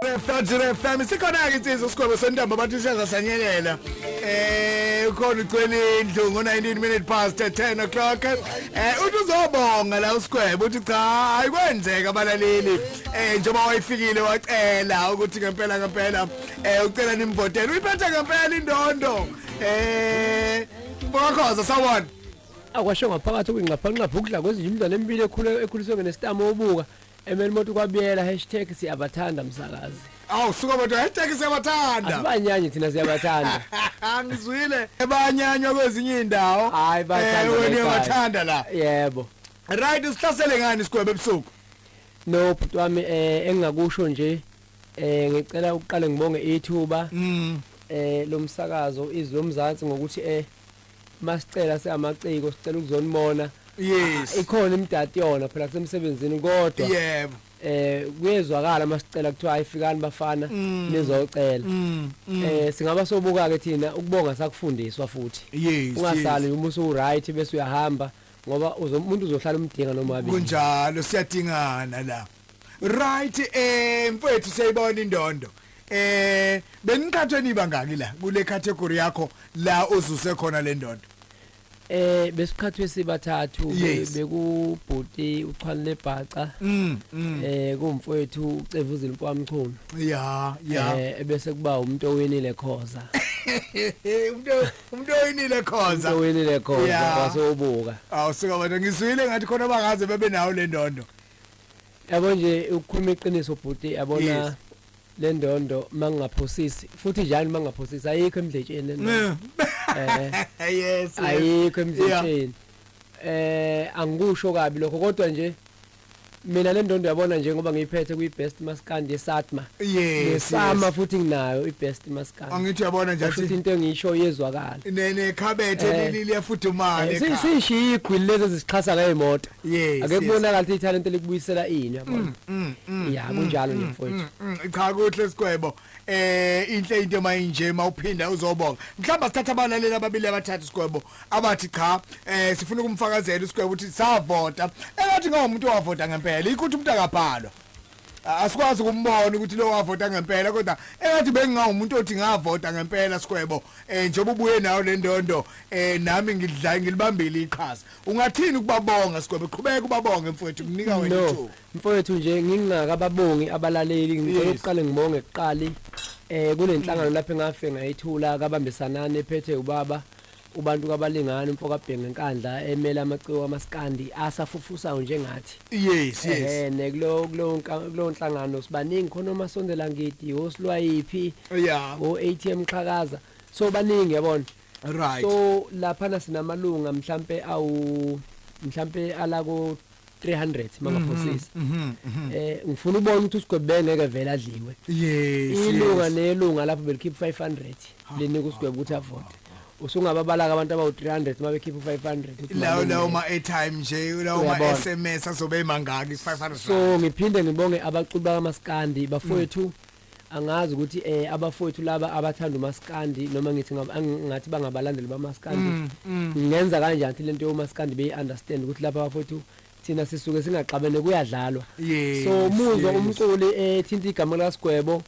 Refajire FM sikhona-ke insizwa usigwebo sentambo abantu iseza sanyelela eh ukhona ucwela indlu ngo-19 minute past 10 o'clock eh uthi uzobonga la usigwebo uthi cha hayi kwenzeka abalaleli eh njengoba wayefikile wacela ukuthi ngempela ngempela Eh ucela nimbotele uyiphethe ngempela indondo. Eh Bokhoza sawona. Akwasho ngaphakathi kwingxaphanqapha ukudla kwezinye umntwana empilo ekhule ekhuliswe ngenestamo obuka emeli moto kwabiyela hashtag siyabathanda msakazi. Awu suka bodwa hashtag siyabathanda. Asibanyanyi thina siyabathanda. Ngizwile ebanyanywa kwezinye indawo. Hayi bathanda. Eh wena uyabathanda la. Yebo. Right usihlasele ngani sigwebe ebusuku. No bhuti wami eh engingakusho nje Eh ngicela ukuqale ngibonge ithuba mm. eh lomsakazo izwi lomzansi ngokuthi eh masicela seamaciko sicela ukuzonibona yes ah, ikhona imdati yona phela kusemsebenzini kodwa yebo eh kuyezwakala masicela kuthiwa ayifikani bafana mm. nizocela mm, mm. eh singaba sobuka ke thina ukubonga sakufundiswa futhi ungasali uma usu right bese uyahamba ngoba umuntu uzohlala umdinga noma wabi kunjalo siyadingana la right eh mfethu siyayibona indondo eh beniqhathwe niba ngaki la kule category yakho la ozuse khona le ndondo eh besiqhathwe sibathathu Yes. bekubhuti uchwanile bhaca mm mm eh kumfowethu ucevuzile kwamchunu ya ya eh bese kuba umuntu owinile khoza umuntu umuntu oyinile umuntu khonza owinile khoza Yeah. wasobuka awusuka wena ngizwile ngathi khona bangaze bebe nawo le ndondo yabo nje ukukhuluma iqiniso bhuti yabona Yes. le ndondo uma ngingaphosisi futhi njani uma ngingaphosisi ayikho emdletsheni le ndondo Eh, yes ayikho emdletsheni eh angikusho kabi lokho kodwa nje mina le ndondo yabona nje ngoba ngiyiphethe kwi-best maskandi yesatma yes nesama yes. futhi nginayo i-best maskandi angithi uyabona nje kusho ukuthi athi into engiyisho iyezwakala ne nekhabethe Eh. leli liyafudumala Eh, si- ekhaya. siyishiye igwili lezi ezisixhasa ngey'moto Yes. Ake kubonakala ukuthi ithalente likubuyisela ini yabona. Mm, mm, mm, ya kunjalo nje mfowethu. Cha kuhle sigwebo. Eh inhle into mayinje mawuphinda uzobonga. Mhlamba sithatha abalaleli ababili abathathu sigwebo abathi cha eh sifuna ukumfakazela usigwebo ukuthi savota. Engathi ngomuntu owavota ngempela ikuthi umuntu akabhalwa. asikwazi ukumbona ukuthi lo wavota ngempela kodwa engathi bengingawumuntu othi ngavota ngempela sikwebo eh njengoba ubuye nayo le ndondo eh nami ngidla ngilibambile iqhaza Ungathini ukubabonga sigwebe qhubeka ubabonge mfowethu mnika wena no ithuba. mfowethu nje ngingaka babongi abalaleli ngicela Yes. ukuqale ngibonge kuqali eh kunenhlangano lapho engafe ngayithula kabambisanani ephethe ubaba ubantu kabalingani umfo kabhenge nkandla emele amaciko amaskandi asafufusayo njengathi Yes yes. eh ne kulo kulo nka- kulo nhlangano sibaningi khona omasondela ngidi osilwayiphi Yeah. o ATM xhakaza so baningi yabona right so lapha na sinamalunga mhlambe awu mhlambe ala ko 300 mangaphosisa mhm, mhm, mhm. eh ngifuna ubona ukuthi usigwebe bengeke vele adliwe yes ilunga nelunga lapho belikhipha 500 lenika usigwebe ukuthi avote usungababalaka abantu abawu 300 uma bekhipha 500 lawo lawo ma airtime nje lawo ma SMS azobe emangaki 500 so ngiphinde ngibonge abaculi bakaMaskandi bafowethu mm. angazi ukuthi eh abafowethu laba abathanda umaskandi noma ngithi ngathi bangabalandeli bamaskandi mm, mm. ngenza kanjani thi lento yomaskandi beyi understand ukuthi lapha abafowethu thina sisuke singaxabene kuyadlalwa so muzwa umculi ethinta eh, igama likasigwebo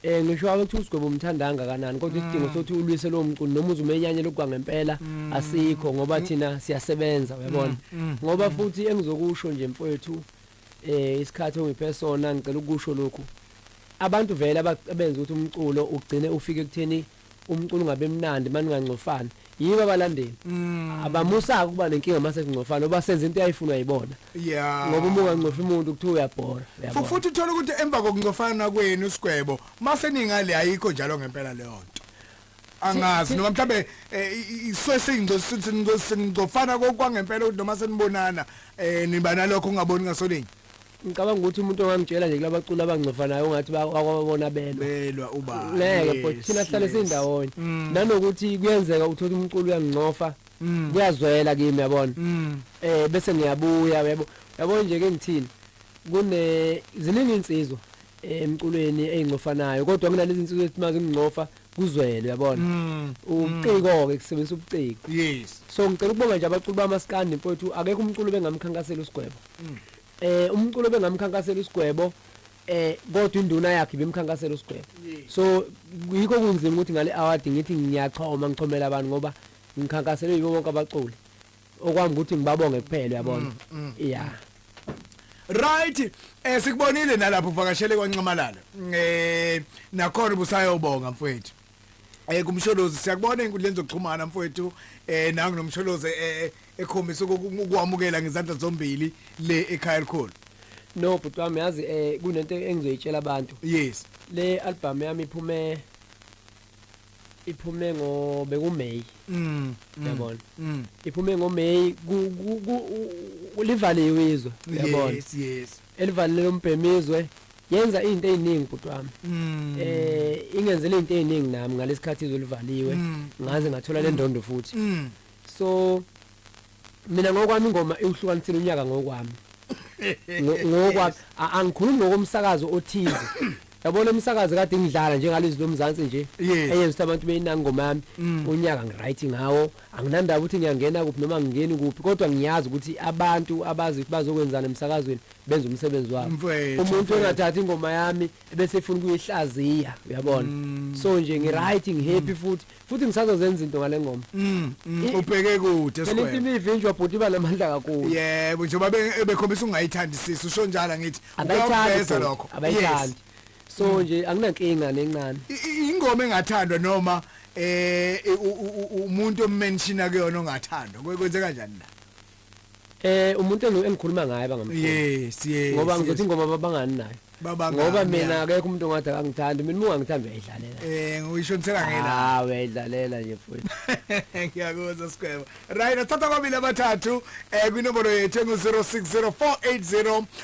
eh ngisho ukuthi usigwebo umthandanga kanani kodwa mm. isidingo sokuthi ulwise lo mculi noma uzumenyanye lokwa ngempela asikho ngoba thina siyasebenza uyabona ngoba futhi engizokusho nje mfowethu eh isikhathi ongiphe sona ngicela ukusho lokhu abantu vele abenza ukuthi umculo ugcine ufike kutheni umculo ungabe mnandi maningangcofani yiba abalandeli mm. abamusaka ukuba nenkinga mase kungcofana oba senza into yayifunwa yibona yeah ngoba uma ungangcofi umuntu kuthiwa uyabhora futhi uthola ukuthi emva kokungcofana kwenu sigwebo mase ningali ayikho njalo ngempela leyo nto angazi noma mhlambe eh, iswe singizofana kokwangempela ukuthi noma senibonana eh, niba nalokho ungaboni ngasolinye ngicabanga ukuthi umuntu ongamtshela nje kulabaculi abangcofanayo ungathi bakwabona belwa belwa uba ngeke but thina sihlale sindawonye mm. nanokuthi kuyenzeka uthola umculo uyangcofa mm. kuyazwela kimi yabona mm. eh bese ngiyabuya yabo yabo nje ke ngithini kune ziningi insizwa emculweni eyingcofanayo kodwa kunalezi insuku ethi mazi umngcofa kuzwele uyabona mm. ubuciko ke kusebenzisa ubuciko yes so ngicela ukubonga nje abaculi bamaskandi mfowethu akekho umculo bengamkhankasela usigwebo mm. eh umculo bengamkhankasela usigwebo eh kodwa induna yakhe bemkhankasela usigwebo so yikho kunzima ukuthi ngale award ngithi ngiyachoma ngichomela abantu ngoba ngikhankaselwe yibo bonke abaculi okwami ukuthi ngibabonge kuphela uyabona mm, mm. yeah right eh sikubonile nalapho uvakashele kwanxamalala eh nakhona ubusayobonga mfowethu eh kumsholozi siyakubona inkundleni zokuxhumana mfowethu eh nangu nomsholozi eh, eh, ekhombisa ukukwamukela ngezandla zombili le ekhaya elikhulu no bhuti wami yazi eh kunento engizoyitshela abantu yes le album yami iphume iphume ngo bekuMay mm, mm yabona mm. iphume ngo May kulivaliwe izwe yabona yes yes elivalile umbhemizwe yenza izinto eziningi bhuti wami mm. eh ingenzele izinto eziningi nami ngalesikhathi izolivaliwe mm. ngaze ngathola lendondo futhi so Mina ngokwami ingoma iwuhlukanisile unyaka ngokwami. Ngokwami angikhulumi ngokomsakazo othize. Yabona umsakazi kade ngidlala njengalezi lomzansi nje eyenza ukuthi abantu beyinanga ingoma yami mm. unyaka ngiright ngawo anginandaba ukuthi ngiyangena kuphi noma ngingeni kuphi kodwa ngiyazi ukuthi abantu abazi ukuthi bazokwenzana emsakazweni benza umsebenzi wabo umuntu engathathi ingoma yami bese efuna ukuyihlaziya uyabona mm. so nje ngiright ngihappy mm. futhi futhi ngisazozenza izinto ngale ngoma mm, mm, ubheke kude phela into imivinjwa bhuti iba namandla kakhulu yebo njengoba bekhombisa ungayithandisisi usho njalo ngithi ukuyaveza lokho abayithandi so mm. nje anginankinga nencane ingoma engathandwa noma eh umuntu ommenshina kuyona ongathandwa kwenzeka kanjani la Eh umuntu engu- engikhuluma ngaye bangam. yes yes Ngoba yes. ngizothi ingoma babangani nayo. Babangani, Ngoba ya. mina akekho umuntu ongathi akangithandi, mina uma ngithanda uyayidlalela. eh uyishonisela ngela Ah uyayidlalela nje futhi. ngiyakuzwa sikhwebo right athatha kwabili abathathu eh kwinombolo yethu engu-060480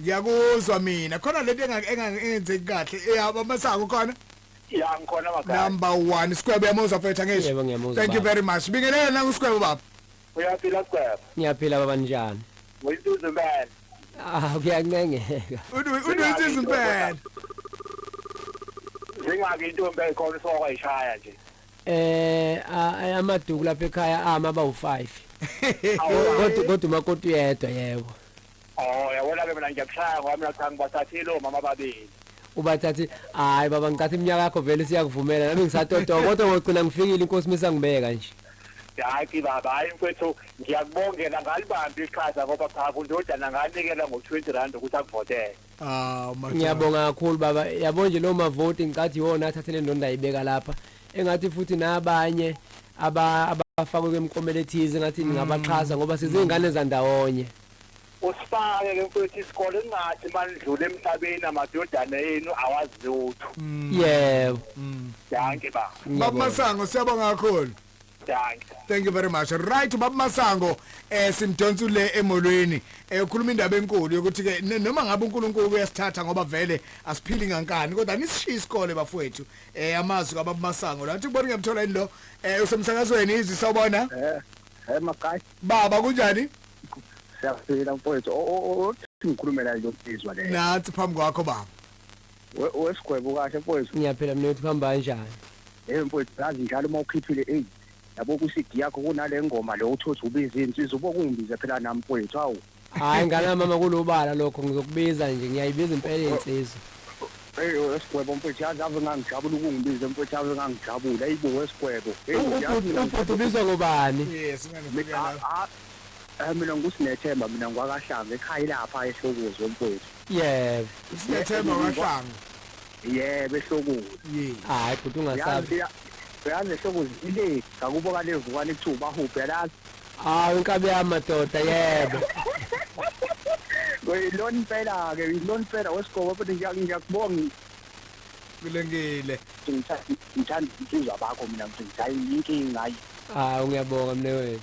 ngiyakuzwa mina khona lento engenzeki kahle eyaba masango khona ya ngikhona magaya number 1 sikwebo yamuzwa mfethu angisho Yebo, ngiyamuzwa, thank you baba. very much bingelela na usikwebo baba uyaphila sigwebo ngiyaphila baba njani uyisizwe impela ah kuyancengeka unozizi impela zingaki intombi ekhona isokwa ishaya nje eh a- a- amaduku lapha ekhaya ama abawu-5 kodwa kodwa umakoti uyedwa yebo Oh, yabona ke mina ngiyakushaya ngoba mina cha ngibathathile omama ababili. ubathathi hayi baba ngithatha iminyaka yakho vele siyakuvumela nami ngisatotoba kodwa ngogcina ngifikile inkosi misangibeka nje Daki baba, hayi mfethu ngiyakubongela ngalibambi iqhaza ngoba cha kundodana nganikela ngo-20 rand ukuthi akuvotele. Ah, madoda. ngiyabonga kakhulu baba yabo nje lo mavoti ngicathi iwona athathe le ndonda ayibeka lapha engathi futhi nabanye aba- abafakwe kwemikomelo ethize ngathi ningabaxhasa ngoba sizingane zandawonye usifake ke mfowethu isikole kungathi manidlule emhlabeni amadodana enu awazi lutho yebo danke baba Baba ngiyabonga. Masango siyabonga kakhulu. Danke. thank you very much right ubaba masango eh simdonsa le emolweni eh ukhuluma indaba enkulu yokuthi ke n- noma ngabe uNkulunkulu uyasithatha ngoba vele asiphili ngankani kodwa nisishiya isikole bafowethu eh amazwi kababa masango lathi kubona ngemthola yini lo eh usemsakazweni izwi sawubona Eh, eh makayi baba kunjani siyaphila mfowethu. O- o- o- Ngikhulumela nje ukusizwa le. nathi phambi kwakho baba We- wesigwebo kahle mfowethu ngiyaphela mnewethu kuhamba kanjani hey mfowethu yazi njalo uma ukhiphile eyi yabo kwi-cd yakho kunale ngoma le uthothi ubiza insizwa ubo kungibize phela nami mfowethu hawu hhayi ngana mama kulobala lokho ngizokubiza nje ngiyayibiza impela insizwa eyi wesigwebo mfowethu yazi ave ngangijabula ukungibize mfowethu ave ngangijabula eyi bo wesigwebo Hey, U- yazi ubhuti mina ubhuti ubizwa ngobani yes mina Mi- ngifika a- la a- eh, mina ngusinethemba mina ngikwakahlanga ekhaya ilapha ehlokozi wemfowethu yebo Usinethemba wahlanga. yebo ehlokweni Ye. hayi bhuti ungasabi yazi yazi ehlokweni ile ngakubo kalevukane kuthiwa ubahubhe lazi hawu inkabi yami madoda yebo uyilona impela-ke uyilona impela wesigobo futhi ngiya- ngiyakubonga Kulengile. ukuthi ngitha- ngithanda insizwa bakho mina ngithi ngithanda inkinga hayi hawu ngiyabonga mne wethu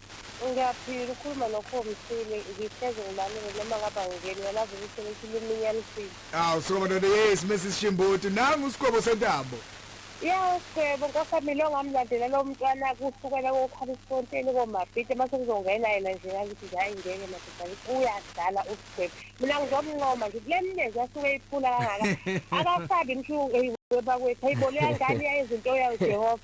Ngiyaphila ukhuluma no Kho Msweli ngihlezi ngilalele noma ngabe angingeni uyalazi ukuthi lithi luminya lufile. Awu Sgwebo ndoda yes Mrs Shimbuti nangu uSgwebo sentambo. Yawu Sgwebo nkosami lo ngamlandela lo mntwana kusukela kokhalisfonteni komabhida mase kuzongena yena nje ngakithi nje hayi ngeke madoda ngithi uyadlala uSgwebo. Mina ngizomncoma nje kule mlenze asuke eyiphula kangaka akasabi mshu eyi webakwethu hayibo leyangane yayenza into yayo Jehova.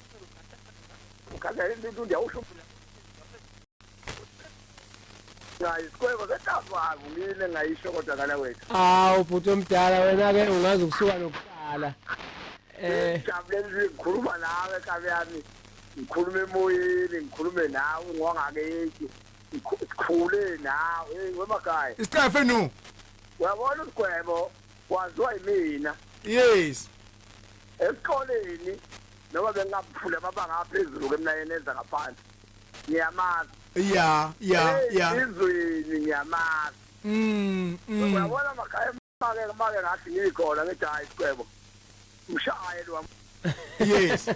Ngikhala into ndiyawusho ngayisikweko sekafaku ngile ngayisho kodwa ngala wethu awu bhuti omdala wena ke ungazi ukusuka nokuqala eh jabulele ngikhuluma nawe kabe yami ngikhuluma emoyeni ngikhulume nawe ngwangakethi sikhule nawe hey wemakhaya isicefe nu uyabona usigwebo Waziwa yimina. Yes. Esikoleni noma bengaphula amabanga aphezulu kemnayeni enza ngaphansi. Ngiyamazi. Yeah, yeah, yeah. Izweni ngiyamazi. Mm. mm. Uyabona makhaya make make ngathi ngikhona ngithi hayi sicebo. Mshaye lo. Yes.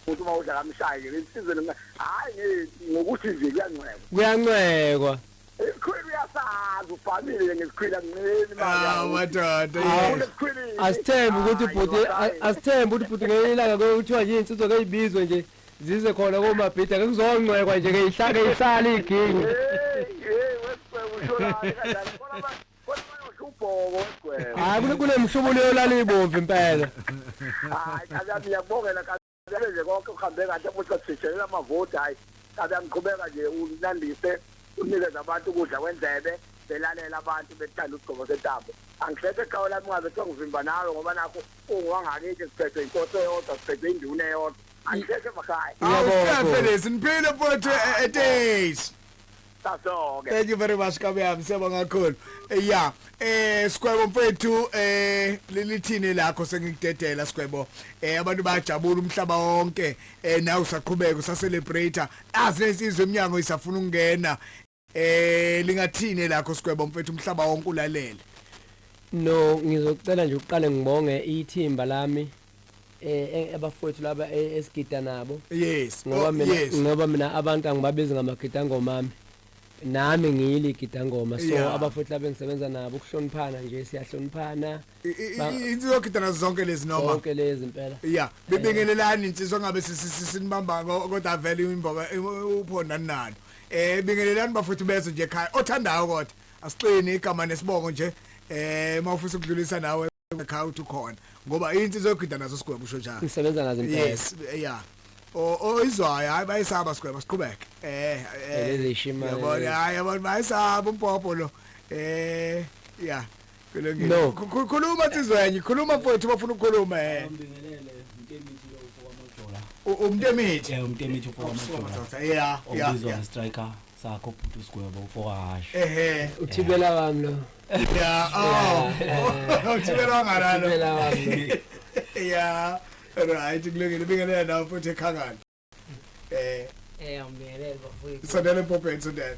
ukuthi uma udla kamshaye nje insizwe hayi ngokuthi nje kuyancekwa kuyancekwa Isikhwili uyasazi ufamile ngesikhwili akunceli imali. Ah madoda. Ufuna isikhwili. Asithembe ukuthi bhuti asithembe ukuthi bhuti ngelinye ilanga kuthiwa yini insizwa kayibizwe nje zize khona komabhida ke kuzongcwekwa nje ke ihlake ihlale igingi. Hey wesibhe ushona kanjani kodwa ubhoko wesibhe. Hayi kunemhlubulo yolala ibomvu impela. Hayi akabi yabongela Vele nje konke kuhambe kahle futhi sishiyelela amavoti hayi kabe angiqhubeka nje unandise unikeza abantu ukudla kwendlebe belalela abantu bethanda usigcobo sentambo angihleke ekhaya lami ngabe kuthiwa ngivimba nawe ngoba nakho ungiwangakithi siphethwe inkosi eyodwa siphethwe induna eyodwa angihleke emakhaya Awuhlafe lezi niphile mfowethu e- eTesi. Sasoke. Thank you very much kabe yami siyabonga kakhulu. Eh, yeah. Eh Skwebo mfethu eh lilithini lakho sengikudedela Skwebo. Eh abantu bayajabula umhlaba wonke. Eh nawe usaqhubeka usa celebrate. Azi lesizwe eminyango isafuna ukungena. Eh lingathini lakho Skwebo mfethu umhlaba wonke ulalele. No ngizocela nje uqale ngibonge ithimba lami eh, eh abafowethu laba eh, esigida nabo yes ngoba oh, mina yes. ngoba mina abantu angibabizi ngamagida ngomami nami ngiyili gidangoma so yeah. abafowethu laba engisebenza nabo ukuhloniphana nje siyahloniphana insizwa gida nazo zonke lezi noma zonke lezi impela yeah bibingelelani insizwa ngabe sinibamba kodwa vele imboka uphonda nalo eh bingelelani bafowethu bezo nje ekhaya othandayo kodwa asiqini igama nesibongo nje eh mawufisa ukudlulisa nawe ekhaya uthi ukhona ngoba into izogida nazo sigwebo usho njalo ngisebenza nazo impela yes yeah oyizwayo hayi bayisaba sigwebo siqhubeke eh elezishima eh, yabona hayi abantu bayisaba umpopho lo eh yeah kulungile no khuluma tizwenye khuluma mfowethu bafuna ukukhuluma eh ngibingelele mntembithi lo ufoka mojola umntembithi eh umntembithi ufoka mojola yeah yeah yeah striker sakho bhuti usigwebo mfowahasho ehe uthibela wami lo ya oh uthibela wangalalo uthibela wami lo ya right kulungile bingelela nawe futhi ekhangana eh eh awumbingelele bafowethu sondela empopeni sondela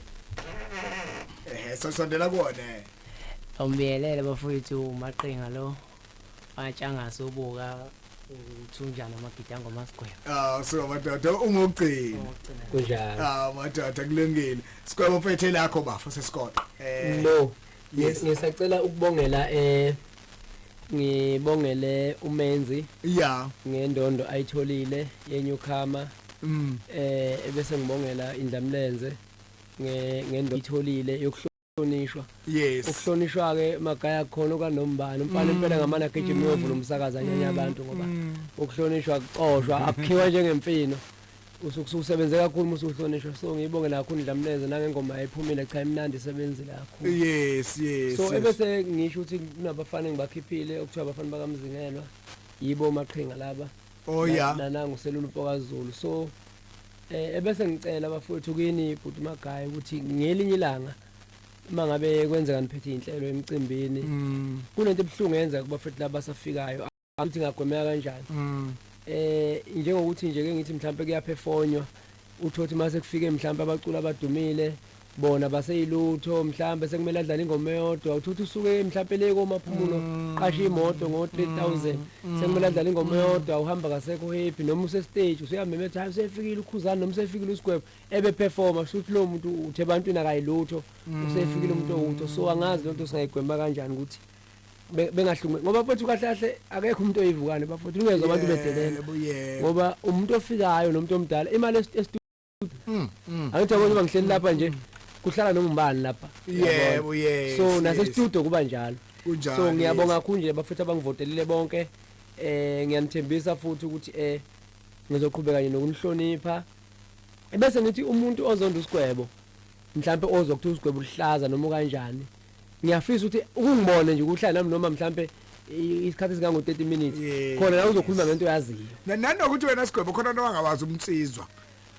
ehe so sondela kuwona eh. awumbingelele bafowethu umaqinga lo batshangase ubuka uthunjana amagidi angomasigwebo ah so madoda ungogcina kunjalo ah madoda kulungile sigwebo mfethe lakho bafo sesiqoqa eh no yes ngisacela ukubongela eh ngibongele umenzi yeah ngendondo ayitholile yenyukhama mm eh bese ngibongela indlamlenze ngendondo ayitholile ukuhlonishwa yes ukuhlonishwa ke magaya khona okanombani umfana impela mm. ngamana gijima mm. uyovula umsakaza nyanya mm. abantu ngoba ukuhlonishwa kuxoshwa akukhiwa njengemfino usukusebenze kakhulu musu uhlonishwa so ngiyibonge nakho ndlamleze nangengoma yayiphumile cha imnandi isebenzi lakho yes yes so ebese ngisho ukuthi kunabafana engibakhiphile okuthiwa abafana bakamzingelwa yibo maqhinga laba oh ya nananga uselula umpokazulu so eh ebese ngicela bafowethu kini bhuti magayi ukuthi ngelinye ilanga uma ngabe kwenzeka niphethe inhlelo emcimbini mm. kunento ebuhlungu yenza kubafethu laba safikayo ukuthi ngagwemeka kanjani mm. eh njengokuthi nje ke ngithi mhlawumbe kuyaphefonywa uthothi mase kufike mhlawumbe abaculi abadumile bona baseyilutho mhlawumbe sekumele adlale ingoma eyodwa uthothi usuke mhlawumbe le komaphumulo mm. qasha imoto ngo 3000 mm. sekumele adlale ingoma mm. eyodwa uhamba kasekho happy noma use stage useyameme ethi usefikile ukhuzana noma usefikile usigwebo ebe performer shuthi lo muntu uthe abantu nakayilutho usefikile umuntu owutho so angazi lonto singayigwema kanjani ukuthi bengahlumi ngoba futhi kahle kahle akekho umuntu oyivukane bafuthi ungezwe abantu bedelela ngoba umuntu ofikayo nomuntu omdala imali estudio hmm, hmm. angithi abona uba ngihleli lapha nje kuhlala noma ubani lapha yebo yebo so nase studio kuba njalo kunjalo so ngiyabonga kakhulu nje bafuthi abangivotelile bonke eh ngiyanithembisa futhi ukuthi eh ngizoqhubeka nje nokunihlonipha bese ngithi umuntu ozonda usigwebo mhlawumbe ozokuthuza usigwebo luhlaza noma kanjani ngiyafisa ukuthi ukungibone nje ukuhlala nami noma mhlampe isikhathi singango 30 minutes khona la uzokhuluma ngento oyaziyo nanokuthi wena sigwebo khona nowangawazi umnsizwa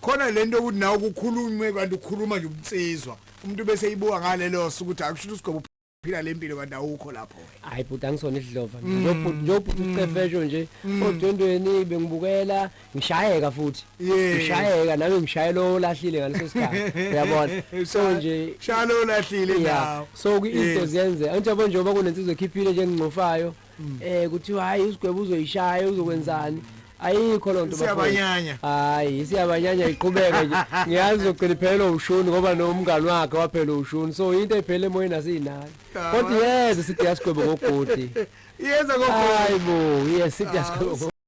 khona lento ukuthi nawe kukhulunywe kanti ukhuluma nje umnsizwa umuntu bese ibuka ngalelo suku ukuthi akusho usigwebo phila lempilo kanti awukho lapho hayi bhuti angisona isidlova mm. nje nje ubhuti ucefesho nje mm. odwendweni bengibukela ngishayeka futhi Yeah. ngishayeka nami ngishaye lo olahlile ngaleso sikhathi uyabona so nje shaya lo lahlile yeah. nawo so ku- into Yes. ziyenze anjabo njengoba kunensizwa ekhiphile nje engingcofayo Mm. eh kuthiwa hayi usigwebo uzoyishaya uzokwenzani ayikho loo nto bafowethu. Siyabanyanya. hayi siyabanyanya iqhubeke nje ngiyazi uzogcina iphelelwe ushuni ngoba nomngani wakhe waphelelwa ushuni so into ephele emoyeni asiyinani Yeah, kodwa man. yeze sithi yasigwebo ngogodi yeza hayi kokho bo yes sithi yasigwebo